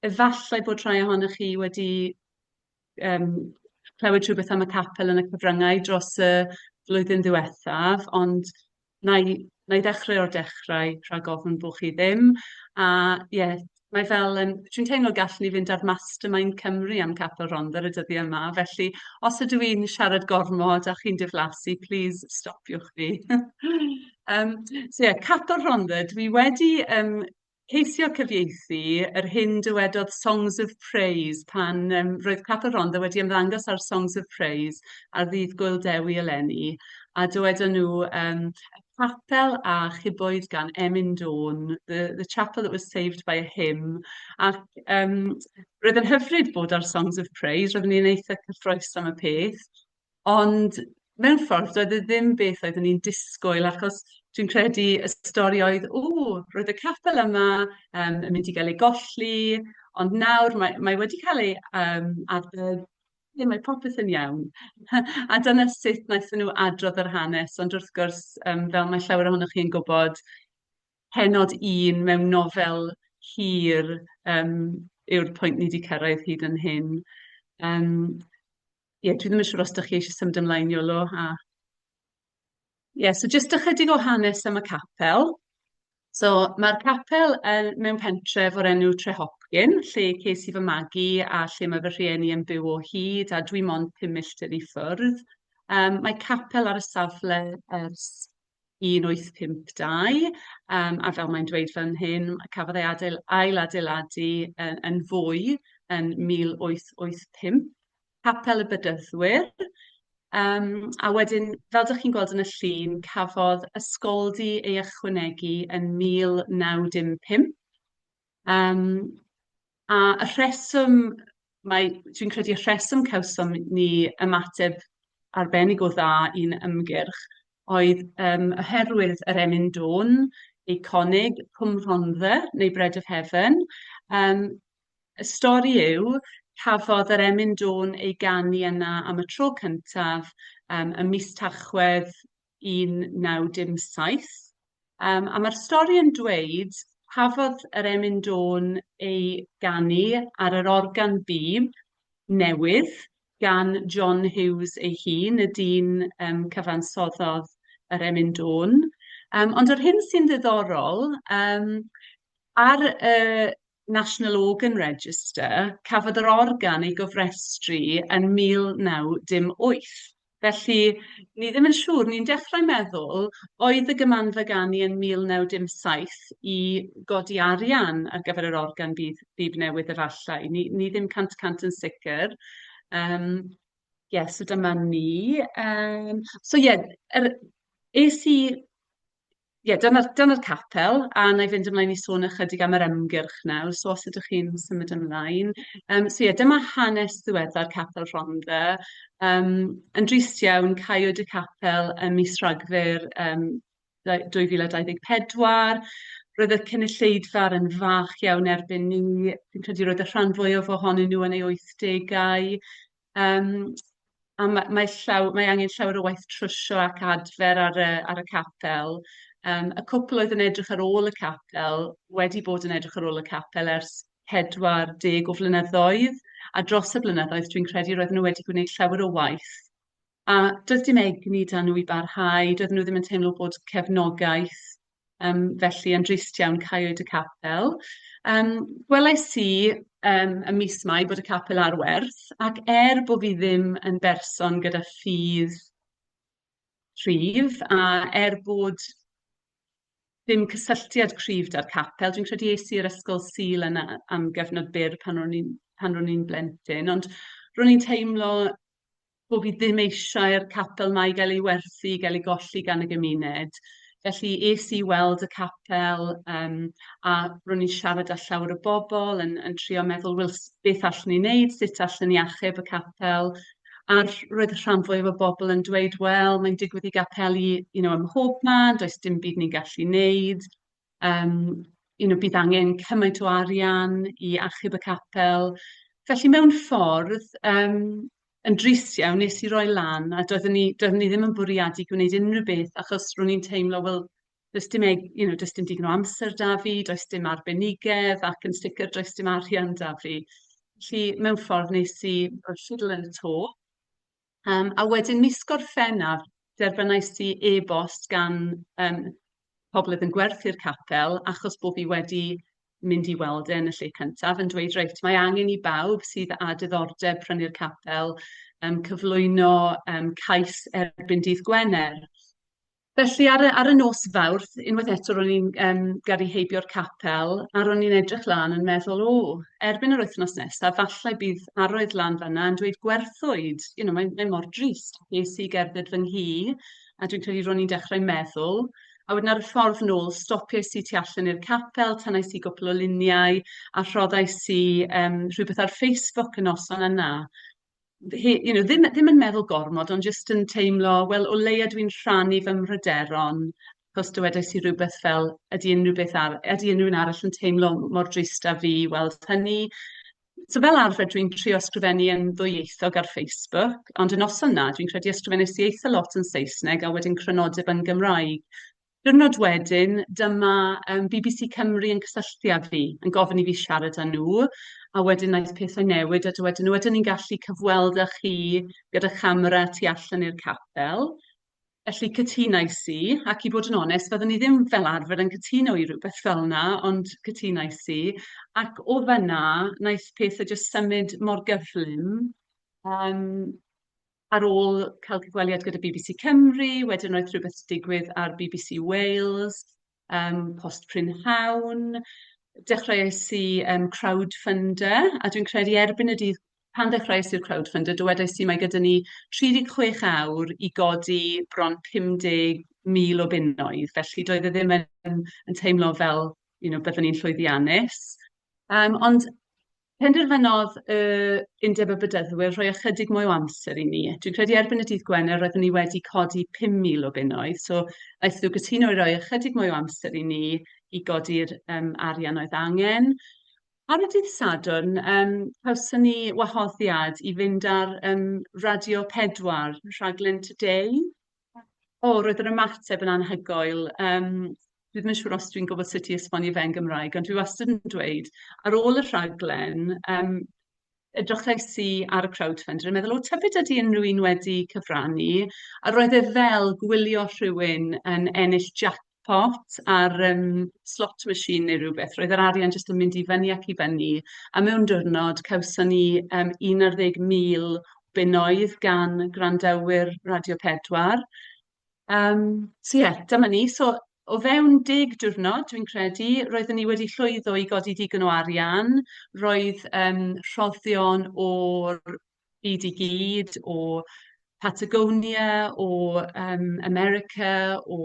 efallai bod rhai ohonoch chi wedi yym clywed rhywbeth am y capel yn y cyfryngau dros y flwyddyn ddiwethaf, ond wna i wna i ddechrau o'r dechrau rhag ofn bod chi ddim. A ie, mae fel... yym dwi'n teimlo gallwn ni fynd ar Mastermind Cymru am Capel Rhondda ar y dyddiau yma, felly os ydw i'n siarad gormod a chi'n diflasu, plis stopiwch fi. Yym so ie, Capel Rhondda, dwi wedi yym ceisio cyfieithu yr hyn dywedodd Songs of Praise pan um, roedd Papa Rhondda wedi ymddangos ar Songs of Praise ar ddydd Gwyl Dewi eleni a dywedon nhw um, y capel a chiboedd gan Emin Dawn, the, the chapel that was saved by a hymn ac um, roedd yn hyfryd bod ar Songs of Praise, roeddwn ni'n eitha cyffroes am y peth Ond mewn ffordd, doedd e ddim beth oeddwn i'n disgwyl, achos dwi'n credu y stori oedd, "w, roedd y capel yma yn mynd i gael ei golli, ond nawr mae mae wedi cael ei yym adfer, ble mae popeth yn iawn". A dyna sut wnaethon nhw adrodd yr hanes, ond wrth gwrs, yym fel mae llawer ohonoch chi'n gwybod, pennod un mewn nofel hir yym yw'r pwynt ni 'di cyrraedd hyd yn hyn. Yym. ie, dwi ddim yn siŵr os dach chi eisiau symud ymlaen, Iolo, a... Ie, so jyst ychydig o hanes am y capel. So, mae'r capel yn mewn pentref o'r enw Trehopcyn, lle ces i fy magu a lle mae fy rhieni yn byw o hyd, a dwi mond pum milltir i ffwrdd. Um, mae capel ar y safle ers 1852 yym a fel mae'n dweud fan hyn cafodd ei adeil- ailadeiladu yy yn fwy yn 1885, Capel y Bedyddwyr yym a wedyn fel dach chi'n gweld yn y llun cafodd ysgoldy ei ychwanegu yn 1915 yym A y rheswm mae... dwi'n credu y rheswm cawsom ni ymateb arbennig o dda i'n ymgyrch oedd yym oherwydd yr emyn dw'n eiconig, Cwm Rhondda neu Bread of Heaven. Yym y stori yw, cafodd yr emyn dw'n ei ganu yna am y tro cyntaf yym ym mis Tachwedd 1917, yym, a ma'r stori yn dweud cafodd yr emyn dôn ei ganu ar yr organ bîb newydd gan John Hughes ei hun, y dyn yym cyfansoddodd yr emyn dôn. Yym ond yr hyn sy'n ddiddorol yym ar y National Organ Register, cafodd yr organ ei gofrestru yn 1918. Felly, ni ddim yn siŵr. Ni'n dechrau meddwl, oedd y Gymanfa Ganu yn 1917 i godi arian ar gyfer yr organ bîb bîb newydd efallai. Ni ni ddim cant y cant yn sicr. Yym, ie, so dyma ni. Yym, so ie, yr... es i Ie, dyna dyna'r capel, a wna i fynd ymlaen i sôn ychydig am yr ymgyrch nawr, so os ydych chi'n symud ymlaen. Yym, so ie, dyma hanes ddiweddar Capel Rhondda. Yym, yn drist iawn, caiwyd y capel ym mis Rhagfyr yym dau- 2024. Roedd y cynulleidfaoedd yn fach iawn erbyn 'ny. Fi'n credu roedd y rhan fwyaf ohonyn nhw yn eu wythdegau. Yym, a ma' mae llaw- mae angen llawer o waith trwsio ac adfer ar y ar y capel. Yym, y cwpl oedd yn edrych ar ôl y capel wedi bod yn edrych ar ôl y capel ers pedwar deg o flynyddoedd, a dros y blynyddoedd dwi'n credu roedden nhw wedi gwneud llawer o waith A doedd dim egni 'da nhw i barhau, doedden nhw ddim yn teimlo bod cefnogaeth, yym, felly yn drist iawn caewyd y capel. Yym, gwelais i yym ym mis Mai bod y capel ar werth, ac er bo' fi ddim yn berson gyda ffydd cryf, a er bod dim cysylltiad cryf 'da'r capel, dwi'n credu es i i'r ysgol Sul yna am gyfnod byr pan ro'n i'n pan ro'n i'n blentyn, ond ro'n i'n teimlo bo' fi ddim eisiau'r capel 'ma i gael ei werthu, i gael ei golli gan y gymuned. Felly es i weld y capel, yym, a ro'n i'n siarad â llawer o bobl, yn yn trio meddwl, wel, s- beth allwn ni wneud, sut allwn ni achub y capel? A r- roedd y rhan fwyaf o bobl yn dweud, wel, mae'n digwydd i gapeli, you know, ym mhob man, does dim byd ni'n gallu wneud. Yym, you know, bydd angen cymaint o arian i achub y capel. Felly, mewn ffordd, yym, yn drist iawn, wnes i roi lan, a doeddwn i doeddwn i ddim yn bwriadu gwneud unrhyw beth, achos ro'n i'n teimlo, wel, does dim eg- you know does dim digon o amser 'da fi, does dim arbenigedd, ac yn sicr does dim arian 'da fi. Felly, mewn ffordd, wnes i rhoi ffidil yn y to. Yym a wedyn mis Gorffennaf, derbyniais i e-bost gan yym pobl oedd yn gwerthu'r capel, achos bo' fi wedi mynd i weld e yn y lle cyntaf, yn dweud, reit, mae angen i bawb sydd â diddordeb prynu'r capel yym cyflwyno yym cais erbyn dydd Gwener. Felly ar y ar y nos Fawrth, unwaith eto ro'n i'n yym gyrru heibio'r capel, a ro'n i'n edrych lan yn meddwl, "o, erbyn yr wythnos nesa, falle bydd arwydd lan fan'na yn dweud gwerthwyd." You know, mae mae mor drist. Ges i gerdded fy nghi, a dwi'n credu ro'n i'n dechrau meddwl. A wedyn ar y ffordd nôl, stopiais i tu allan i'r capel, tynais i gwpl o luniau, a rhoddais i yym rhywbeth ar Facebook y noson yna. he- you know, ddim ddim yn meddwl gormod, ond jyst yn teimlo, wel, o leia dwi'n rhannu fy mhryderon, achos dywedais i rywbeth fel, ydy unrhyw beth ar- ydy unrhywun arall yn teimlo mor drist â fi i weld hynny? So fel arfer dwi'n trio ysgrifennu yn ddwyieithog ar Facebook, ond y noson 'na dwi'n credu ysgrifennes i eitha lot yn Saesneg a wedyn crynodeb yn Gymraeg. Diwrnod wedyn, dyma yym bbc Cymru yn cysylltu â fi, yn gofyn i fi siarad â nhw, a wedyn wnaeth pethau newid a dywedon nhw "ydyn ni'n gallu cyfweld â chi gyda chamera tu allan i'r capel?" Felly cytunais i, ac i fod yn onest fyddwn i ddim fel arfer yn cytuno i rywbeth fel 'na, ond cytunais i, ac o fan'na wnaeth pethau jyst symud mor gyflym yym. ar ôl cael cyfweliad gyda bbc Cymru, wedyn roedd rhywbeth digwydd ar bbc Wales, um, post prynhawn, dechreuais i um, crowdfunder, a dwi'n credu erbyn y dydd pan ddechreuais i'r crowdfunder, dywedais i mae gyda ni 36 awr i godi bron 50,000 o bunnoedd, felly doedd e ddim yn, yn teimlo fel you know, byddwn ni'n llwyddiannus. Um, ond Penderfynodd y Undeb y Bedyddwyr rhoi ychydig mwy o amser i mi. Dwi'n credu erbyn y dydd Gwener roeddwn i wedi codi 5,000 o bunnoedd, so aeth nhw gytuno i roi ychydig mwy o amser i ni i godi'r yym arian oedd angen. Ar y dydd Sadwrn yym cawson ni wahoddiad i fynd ar yym Radio Pedwar, rhaglen Today. O, roedd yr ymateb yn anhygoel. Um, dwi ddim yn siŵr os dwi'n gwybod sut i esbonio fe'n Gymraeg, ond dwi wastad yn dweud, ar ôl y rhaglen, um, edrychais i ar y crowdfunder yn meddwl, o, tybed ydy unrhyw un wedi cyfrannu? A roedd e fel gwylio rhywun yn ennill jac pot a'r yym slot machine neu rywbeth, roedd yr arian jyst yn mynd i fyny ac i fyny, a mewn diwrnod cawson ni yym 11,000 o bunnoedd gan gwrandawyr Radio Pedwar. Yym so ie, dyma ni. So o fewn deg diwrnod, dwi'n credu, roeddwn ni wedi llwyddo i godi digon o arian, roedd yym rhoddion o'r byd i gyd, o Patagonia, o yym America, o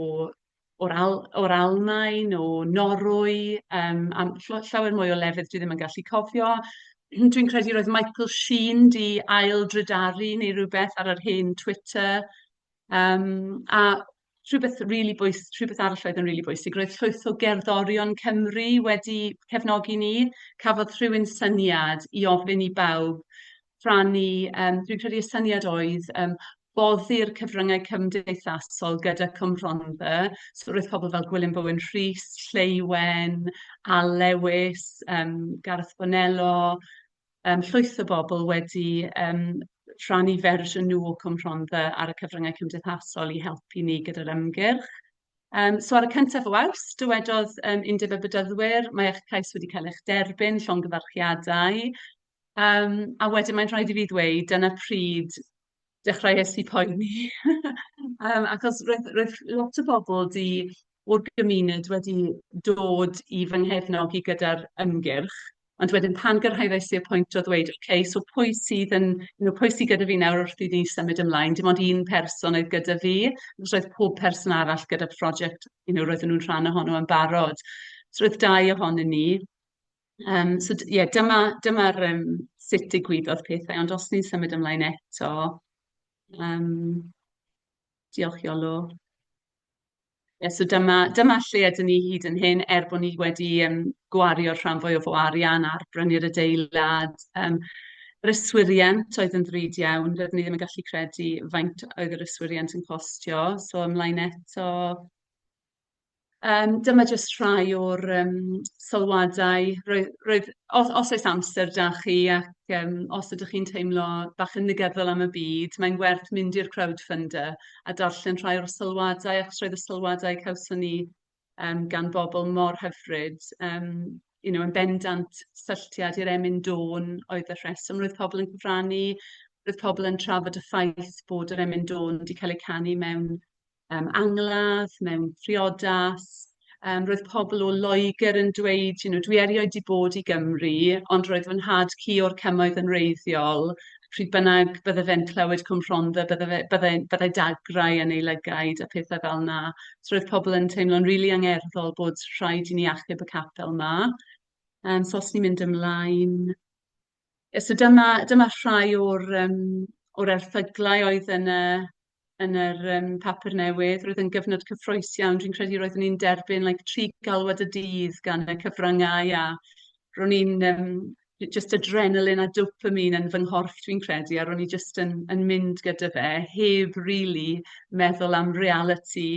o'r Al- o'r Almaen, o Norwy, yym a ll- llawer mwy o lefydd dwi ddim yn gallu cofio. Dwi'n credu roedd Michael Sheen 'di ail-drydaru neu rywbeth ar yr hen Twitter. Yym a rhywbeth rili bwys- rhywbeth arall oedd yn rili bwysig, roedd llwyth o gerddorion Cymru wedi cefnogi ni. Cafodd rhywun syniad i ofyn i bawb rhannu, yym dwi'n credu y syniad oedd yym boddi'r cyfryngau cymdeithasol gyda Cwm Rhondda. So roedd pobl fel Gwilym Bowen Rhys, Lleuwen, Al Lewis, yym Gareth Bonello, yym llwyth o bobl wedi yym rhannu fersiwn nhw o Cwm Rhondda ar y cyfryngau cymdeithasol i helpu ni gyda'r ymgyrch. Yym so ar y cyntaf o Awst, dywedodd yym Undeb y Bedyddwyr, mae eich cais wedi cael eich derbyn, llongyfarchiadau. Yym a wedyn mae'n rhaid i fi ddweud, dyna pryd dechreuais i poeni yym achos roedd roedd lot o bobl 'di... o'r gymuned wedi dod i fy nghefnogi gyda'r ymgyrch, ond wedyn pan gyrhaeddais i'r pwynt o ddweud ok so pwy sydd yn you know pwy sy gyda fi nawr wrth i ni symud ymlaen, dim ond un person oedd gyda fi, achos roedd pob person arall gyda project you know roedden nhw'n rhan ohono yn barod, so roedd dau ohonyn ni. Yym, so d- ie, dyma dyma'r yym sut digwyddodd pethau. Ond os ni'n symud ymlaen eto, yym, diolch Iolo. Ie, so dyma dyma lle ydyn ni hyd yn hyn, er bod ni wedi yym gwario'r rhan fwyaf o arian ar brynu'r adeilad. Yym, yr yswiriant oedd yn ddrud iawn, doeddwn i ddim yn gallu credu faint oedd yr yswiriant yn costio. So ymlaen eto. Yym, dyma jyst rhai o'r, yym, sylwadau. Roedd roedd... os os oes amser 'da chi ac, yym, os ydych chi'n teimlo bach yn negyddol am y byd, mae'n werth mynd i'r crowdfunder a darllen rhai o'r sylwadau, achos roedd y sylwadau cawson ni yym gan bobl mor hyfryd. Yym, you know, yn bendant, sylliad i'r emyn dôn oedd y rheswm. Roedd pobl yn cyfrannu, roedd pobl yn trafod y ffaith bod yr emyn dôn 'di cael ei canu mewn yym angladd, mewn priodas, yym roedd pobl o Loegr yn dweud, you know, dwi erioed 'di bod i Gymru, ond roedd fy nhad-cu o'r cymoedd yn wreiddiol, pryd bynnag bydde fe'n clywed Cwm Rhondda bydde fe bydde byddai dagrau yn ei lygaid a phethau fel 'na. So roedd pobl yn teimlo'n rili angerddol bod rhaid i ni achub y capel 'ma. Yym so os ni'n mynd ymlaen. Ie so dyma dyma rhai o'r yym o'r erthyglau oedd yn y yn yr yym papur newydd. Roedd e'n gyfnod cyffrous iawn. Dwi'n credu roeddwn i'n derbyn like tri galwad y dydd gan y cyfryngau a ro'n i'n yym jyst adrenaline a dopamine yn fy nghorff dwi'n credu a ro'n i jyst yn yn mynd gyda fe heb rili meddwl am realiti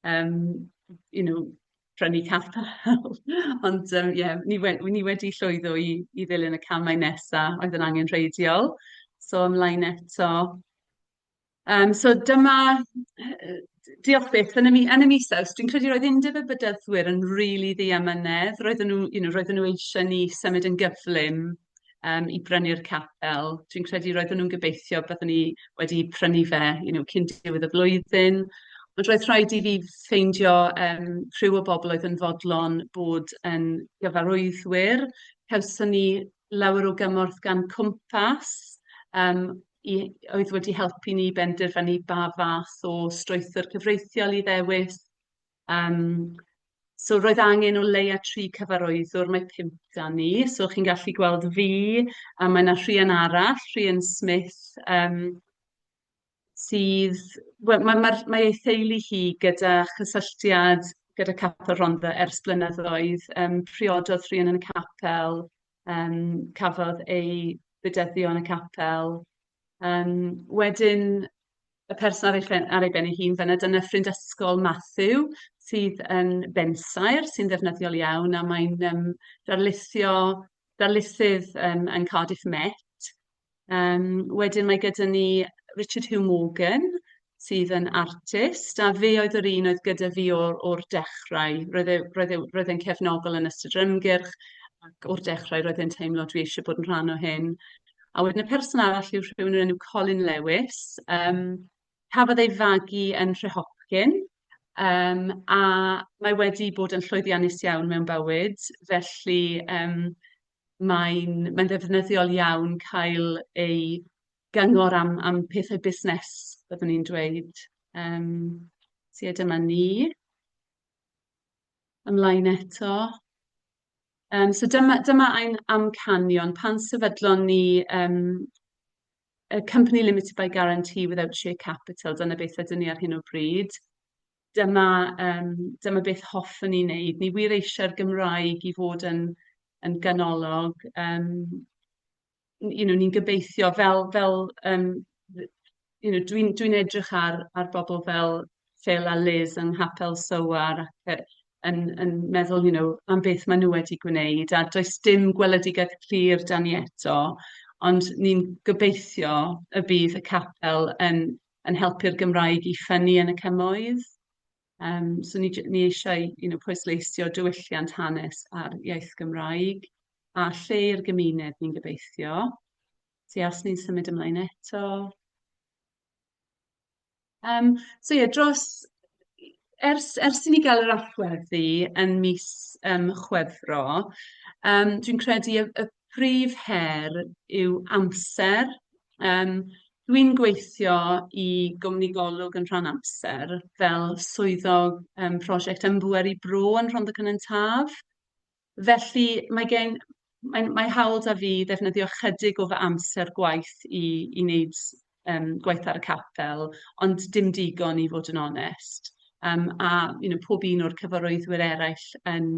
um, you know, prynu capel. Ond um, yeah, ni, we ni wedi llwyddo i, i ddilyn y camau nesaf oedd yn angen rheidiol. So ymlaen eto. Um, so dyma, diolch beth, yn y, mi, yn y mis aws, dwi'n credu roedd undeb y bydyddwyr yn rili really ddiamynedd. Roedden nhw, you know, roedden nhw eisiau ni symud yn gyflym um, i brynu'r capel. Dwi'n credu roedden nhw'n gobeithio byddwn ni wedi prynu fe you know, cyn diwedd y flwyddyn. Ond roedd rhaid i fi ffeindio um, rhyw o bobl oedd yn fodlon bod yn gyfarwyddwyr. Cawson ni lawer o gymorth gan Cwmpas, um, i, oedd wedi helpu ni benderfynu ba fath o strwythur cyfreithiol i ddewis. Yym, so roedd angen o leia' tri cyfarwyddwr, mae pump 'da ni, so chi'n gallu gweld fi, a mae 'na Rhian arall, Rhian Smith, yym, sydd... wel ma' ma'r mae ei theulu hi gyda chysylltiad gyda Capel Rhondda ers blynyddoedd. Yym, priododd Rhian yn y capel, yym, cafodd ei bydyddio yn y capel. Yym, wedyn... y person ar ei phen ar ei ben ei hun fynna dyna ffrind ysgol Matthew sydd yn bensaer sy'n ddefnyddiol iawn a mae'n yym darlithio darlithydd yym yn Cardiff Met. Yym wedyn mae gyda ni Richard Hugh Morgan sydd yn artist a fe oedd yr un oedd gyda fi o'r o'r dechrau. Roedd e roedd e roedd e'n cefnogol yn ystod yr ymgyrch ac o'r dechrau roedd e'n teimlo dwi eisiau bod yn rhan o hyn. A wedyn y person arall yw rhywun o'r enw Colin Lewis. Yym, cafodd ei fagu yn Nhrehochyn, yym, a mae wedi bod yn llwyddiannus iawn mewn bywyd. Felly, yym, mae'n mae'n ddefnyddiol iawn cael ei gyngor am am pethe busnes, byddwn i'n dweud. Yym, so ie, dyma ni. Ymlaen eto. Yym so dyma dyma ein amcanion. Pan sefydlon ni yym y company limited by guarantee without share capital, dyna beth ydyn ni ar hyn o bryd. Dyma yym dyma beth hoffwn ni wneud. Ni wir eisiau'r Gymraeg i fod yn yn ganolog yym you know, ni'n gobeithio fel fel yym dd- you know dwi'n dwi'n edrych ar ar bobl fel Phil a Liz yng Nghapel Soar ac yy yn yn meddwl you know am beth maen nhw wedi gwneud a does dim gweledigaeth clir 'da ni eto ond ni'n gobeithio y bydd y capel yn yn helpu'r Gymraeg i ffynnu yn y cymoedd. Yym so ni j- ni eisiau you know pwysleisio diwylliant hanes a'r iaith Gymraeg a lle i'r gymuned ni'n gobeithio. Felly os ni'n symud ymlaen eto. Yym so ie dros ers ers i ni gael yr allweddi yn mis yym Chwefror yym dwi'n credu y y prif her yw amser. Yym, dwi'n gweithio i gwmni Golwg yn rhan amser fel swyddog yym prosiect yn Bŵer i Bro yn Rhondda Cynon Taf. Felly, mae gen... mae'n... mae'n hawl 'da fi ddefnyddio ychydig o fy amser gwaith i i wneud yym gwaith ar y capel, ond dim digon i fod yn onest. Yym, a you know pob un o'r cyfarwyddwyr eraill yn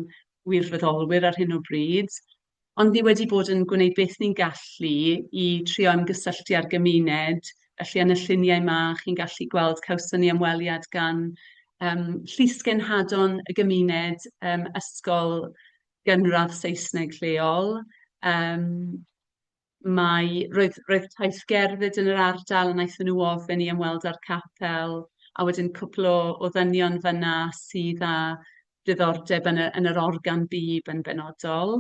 wirfoddolwyr ar hyn o bryd. ond ni wedi bod yn gwneud beth ni'n gallu i trio ymgysylltu â'r gymuned, felly yn y lluniau 'ma chi'n gallu gweld cawson ni ymweliad gan yym llysgenhadon y gymuned yym ysgol gynradd Saesneg lleol yym Mae... roedd roedd taith gerdded yn yr ardal a wnaethon nhw ofyn i ymweld â'r capel a wedyn cwpl o o ddynion fan'na sydd â diddordeb yn y yn yr organ bîb yn benodol.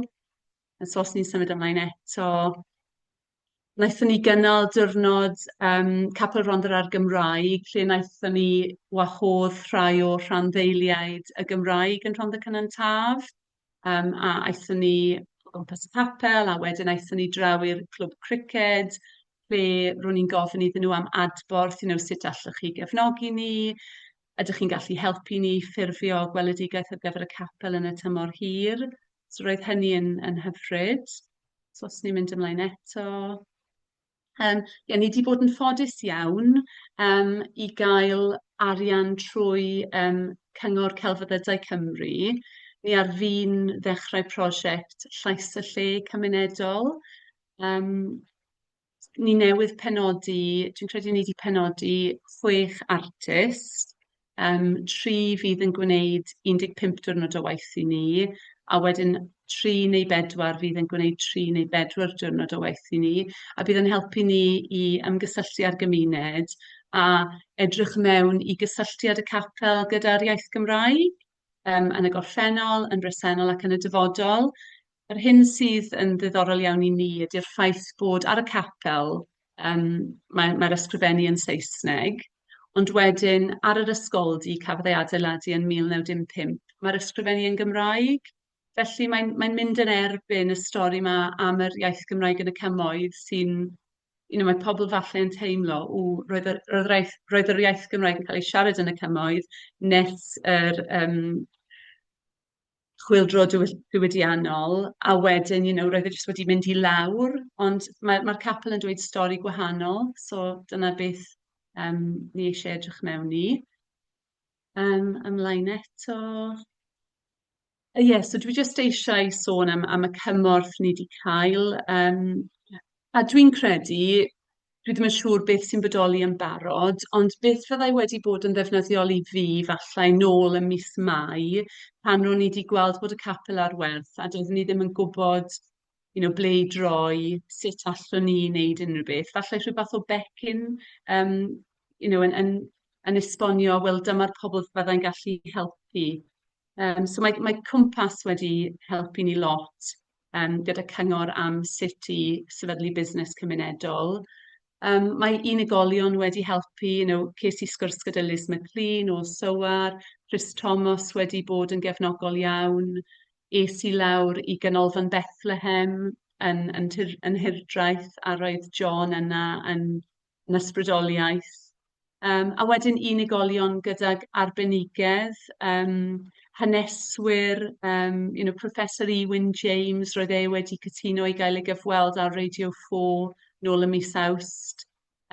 A so os ni'n symud ymlaen eto wnaethon ni gynnal diwrnod yym Capel Rhondda a'r Gymraeg lle wnaethon ni wahodd rhai o rhanddeiliaid y Gymraeg yn Rhondda Cynon Taf. Yym a aethon ni o gwmpas y capel a wedyn aethon ni draw i'r clwb criced lle ro'n ni'n gofyn iddyn nhw am adborth, you know, sut allwch chi gefnogi ni, ydych chi'n gallu helpu ni i ffurfio gweledigaeth ar gyfer y capel yn y tymor hir? So roedd hynny yn yn hyfryd. So os ni'n mynd ymlaen eto. Yym ie, ni 'di bod yn ffodus iawn yym i gael arian trwy yym Cyngor Celfyddydau Cymru. Ni ar fin ddechrau prosiect Llais y Lle cymunedol. Yym ni newydd penodi, dwi'n credu ni 'di penodi chwech artist. Yym tri fydd yn gwneud 15 diwrnod o waith i ni, a wedyn tri neu bedwar fydd yn gwneud tri neu bedwar diwrnod o waith i ni, a bydd yn helpu ni i ymgysylltu â'r gymuned a edrych mewn i gysylltiad y capel gyda'r iaith Gymraeg, yym yn y gorffennol, yn bresennol ac yn y dyfodol. Yr hyn sydd yn ddiddorol iawn i ni ydy'r ffaith bod ar y capel yym mae mae'r ysgrifennu yn Saesneg. Ond wedyn, ar yr ysgoldy, cafodd ei adeiladu yn 1915, mae'r ysgrifennu yn Gymraeg. Felly, mae'n mae'n mynd yn erbyn y stori 'ma am yr iaith Gymraeg yn y cymoedd sy'n... you know, mae pobl falle yn teimlo, "ww, roedd yr roedd yr iaith roedd yr iaith Gymraeg yn cael ei siarad yn y cymoedd nes yr yym chwyldro diwyll- diwydiannol, a wedyn, you know, roedd e jyst wedi mynd i lawr, ond ma' ma'r capel yn dweud stori gwahanol, so dyna beth yym ni eisiau edrych mewn i. Yym ymlaen eto. Yy ie, so dwi jyst eisiau sôn am am y cymorth ni 'di cael yym A dwi'n credu, dwi ddim yn siŵr beth sy'n bodoli yn barod, ond beth fyddai wedi bod yn ddefnyddiol i fi falle nôl ym mis Mai, pan ro'n i 'di gweld bod y capel ar werth, a doeddwn i ddim yn gwybod, you know, ble i droi, sut allwn i wneud unrhyw beth. Falle rhyw fath o becyn, yym, you know, yn yn yn esbonio, wel, dyma'r pobl fyddai'n gallu helpu. Yym, so mae mae Cwmpas wedi helpu ni lot. yym gyda cyngor am sut i sefydlu busnes cymunedol. Yym mae unigolion wedi helpu, you know, ces i sgwrs gyda Liz McLean o SOAR, Rhys Tomos wedi bod yn gefnogol iawn, es i lawr i Ganolfan Bethlehem yn yn Nhŷ'r yn Nhŷ'r Draeth a roedd John yna yn yn ysbrydoliaeth. Yym a wedyn unigolion gydag arbenigedd, yym haneswyr, yym you know Professor Ieuan James, roedd e wedi cytuno i gael ei gyfweld ar Radio Four nôl ym mis Awst,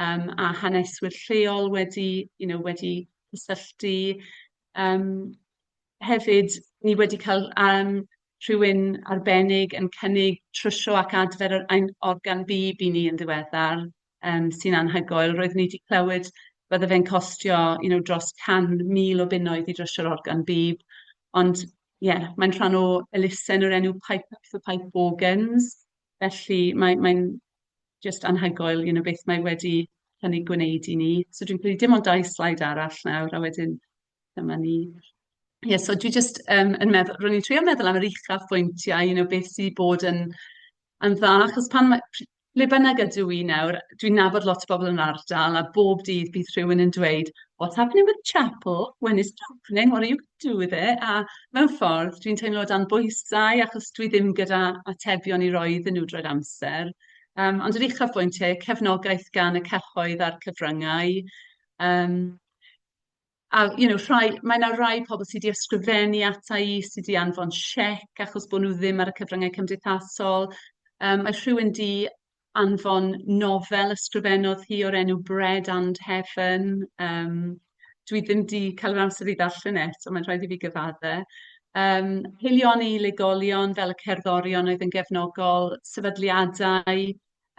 yym a haneswyr lleol wedi you know wedi cysylltu yym. hefyd, ni wedi cael, yym, rhywun arbennig yn cynnig trwsio ac adfer yr ein organ bîb i ni yn ddiweddar, yym, sy'n anhygoel. Roeddwn i 'di clywed bydde fe'n costio, you know, dros 100,000 o bunnoedd i drwsio'r organ bîb, ond ie, mae'n rhan o elusen o'r enw Pipe Up for Pipe Organs, felly mae mae'n jyst anhygoel, you know, beth mae wedi cynnig gwneud i ni. So dwi'n credu dim ond dau sleid arall nawr a wedyn... Dyma ni. Ie, so dwi jyst yym yn meddwl... ro'n i'n trio meddwl am yr uchafbwyntiau, you know, beth sy bod yn yn dda. Achos pan ma'... pr- ble bynnag ydw i nawr, dwi'n nabod lot o bobl yn yr ardal, a bob dydd bydd rhywun yn dweud, "What's happening with the chapel? When is it opening? What are you gonna do with it?" A mewn ffordd, dwi'n teimlo dan bwysau, achos dwi ddim gyda atebion i roi iddyn nhw drwy'r amser. Yym, ond yr uchafbwyntiau, cefnogaeth gan y cyhoedd a'r cyfryngau, yym... A you know rhai... mae 'na rai pobl sy' 'di ysgrifennu ata i, sy' 'di anfon siec achos bod nhw ddim ar y cyfryngau cymdeithasol, yym mae rhywun 'di anfon nofel ysgrifennodd hi o'r enw Bread and Heaven, yym dwi ddim 'di cael yr amser i ddarllen e eto, mae'n rhaid i fi gyfadde. Yym haelioni i unigolion fel y cerddorion oedd yn gefnogol, sefydliadau,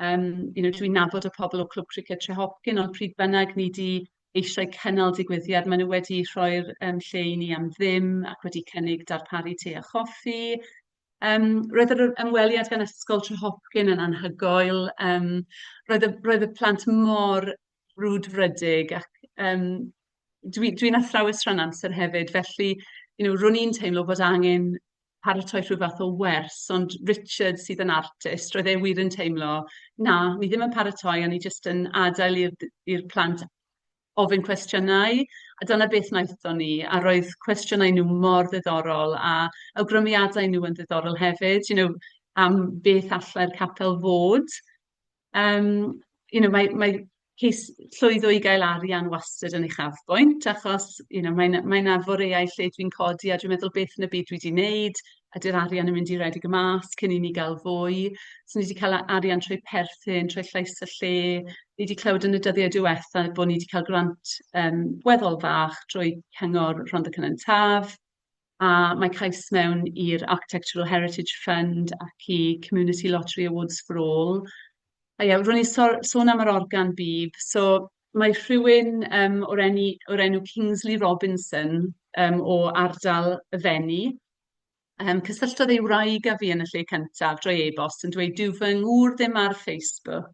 yym you know dwi'n nabod y pobl o Clwb Cricked Trehopcyn ond pryd bynnag ni 'di eisiau cynnal digwyddiad, maen nhw wedi rhoi'r um, lle i ni am ddim ac wedi cynnig darparu te a choffi. Um, roedd yr ymweliad gan Ysgol Trehopcyn yn anhygoel. Um, roedd, y, roedd y plant mor brwdfrydig ac um, dwi'n dwi, dwi athrawes rhan amser hefyd, felly you know, rwy'n i'n teimlo bod angen paratoi rhyw fath o wers, ond Richard sydd yn artist, roedd e wir yn teimlo, na, ni ddim yn paratoi, a ni jyst yn adael i'r d- i'r plant ofyn cwestiynau, a dyna beth wnaethon ni, a roedd cwestiynau nhw mor ddiddorol, a awgrymiadau nhw yn ddiddorol hefyd, you know, am beth allai'r capel fod. Yym, you know, mae mae cais llwyddo i gael arian wastad yn uchafbwynt, achos, you know, mae 'na mae 'na foreuau lle dwi'n codi a dwi'n meddwl "beth yn y byd dwi 'di wneud? Ydy'r arian yn mynd i redeg yn mas cyn i ni gael fwy?" So ni 'di cael a- arian trwy perthyn, trwy llais y lle. Ni 'di clywed yn y dyddiau diwetha bod ni 'di cael grant yym weddol fach drwy Cyngor Rhondda Cynon Taf. A mae cais mewn i'r Architectural Heritage Fund ac i Community Lottery Awards for All. A ie, ro'n i'n so- sôn am yr organ bîb. So mae rhywun yym o'r eni- o'r enw Kingsley Robinson yym o ardal y Fenni, yym cysylltodd ei wraig â fi yn y lle cyntaf drwy e-bost yn dweud "dyw fy ngŵr ddim ar Facebook,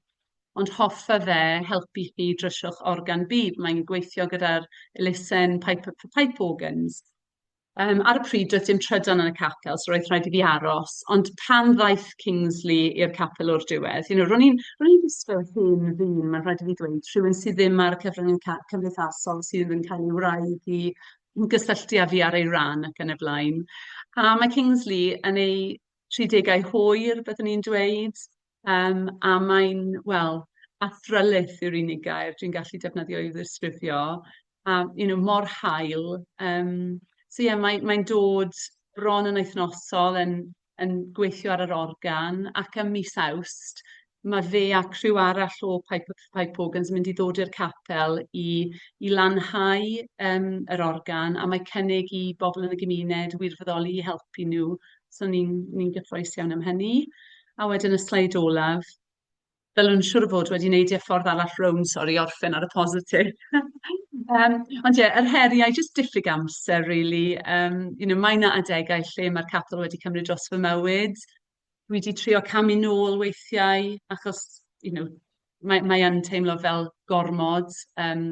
ond hoffa fe helpu chi drysiwch organ bîb, mae'n gweithio gyda'r elusen Piper for Pipe Organs". Yym, ar y pryd doedd dim trydan yn y capel, so roedd rhaid i fi aros. Ond pan ddaeth Kingsley i'r capel o'r diwedd, you know, ro'n i'n ro'n i'n gwisgo hen ddyn, mae'n rhaid i fi ddweud, rhywun sydd ddim ar y cyfryngau ca- cymdeithasol, sydd yn cael ei wraidd i i gysylltu â fi ar ei ran ac yn y blaen. A mae Kingsley yn ei 30au hwyr, byddwn i'n dweud. Yym, a mae'n, wel, athrylith yw'r unig gair dwi'n gallu defnyddio i'w ddisgrifio, a you know mor hael. Yym, so ie, mae mae'n dod bron yn wythnosol, yn yn gweithio ar yr organ, ac ym mis Awst ma' fe a criw arall o Pipe Pipe Organs yn mynd i ddod i'r capel i i lanhau yym yr organ, a mae cynnig i bobl yn y gymuned wirfoddoli i helpu nhw, so ni'n ni'n gyffrous iawn am hynny. A wedyn y sleid olaf, ddylwn siŵr o fod wedi neidio ffordd arall rownd, sori, i orffen ar y positif. Yym, ond ie, yr heriau, jyst diffyg amser rili. Yym, you know, mae 'na adegau lle mae'r capel wedi cymryd dros fy mywyd. Dwi 'di trio camu nôl weithiau, achos, you know, mae mae yn teimlo fel gormod, yym,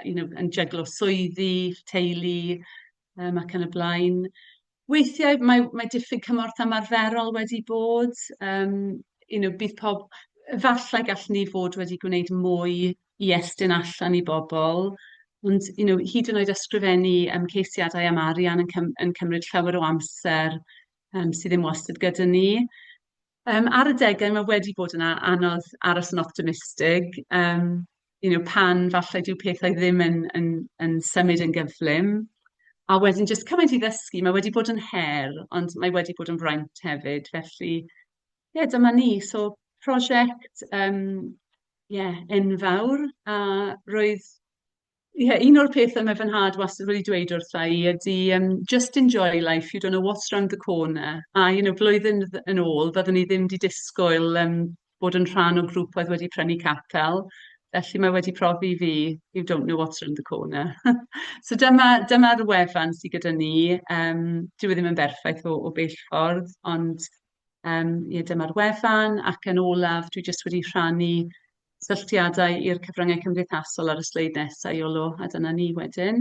you know, yn jyglo swyddi, teulu. yym ac yn y blaen. Weithiau mae mae diffyg cymorth ymarferol wedi bod, yym you know bydd pob... Efallai gallwn ni fod wedi gwneud mwy i estyn allan i bobl, ond you know hyd yn oed ysgrifennu yym ceisiadau am arian yn cym- yn cymryd llawer o amser yym sydd ddim wastad gyda ni. Yym, ar adegau mae wedi bod yn a- anodd aros yn optimistig, yym, you know, pan falle dyw pethau ddim yn yn yn symud yn gyflym. A wedyn jyst cymaint i ddysgu, mae wedi bod yn her, ond mae wedi bod yn fraint hefyd. Felly, ie, dyma ni. So, prosiect yym ie enfawr, a roedd... Ie, un o'r pethe mae fy nhad wastad wedi dweud wrtha i ydy, yym, "just enjoy life, you don't know what's round the corner". A you know blwyddyn dd- yn ôl fyddwn i ddim 'di disgwyl yym bod yn rhan o grŵp oedd wedi prynu capel, felly mae wedi profi i fi, you don't know what's round the corner. So dyma dyma'r wefan sy gyda ni. Yym, dyw e ddim yn berffaith o o bell ffordd, ond yym ie dyma'r wefan. Ac yn olaf, dwi jyst wedi rhannu... cysylltiadau i'r cyfryngau cymdeithasol ar y sleid nesa, Iolo, a dyna ni wedyn.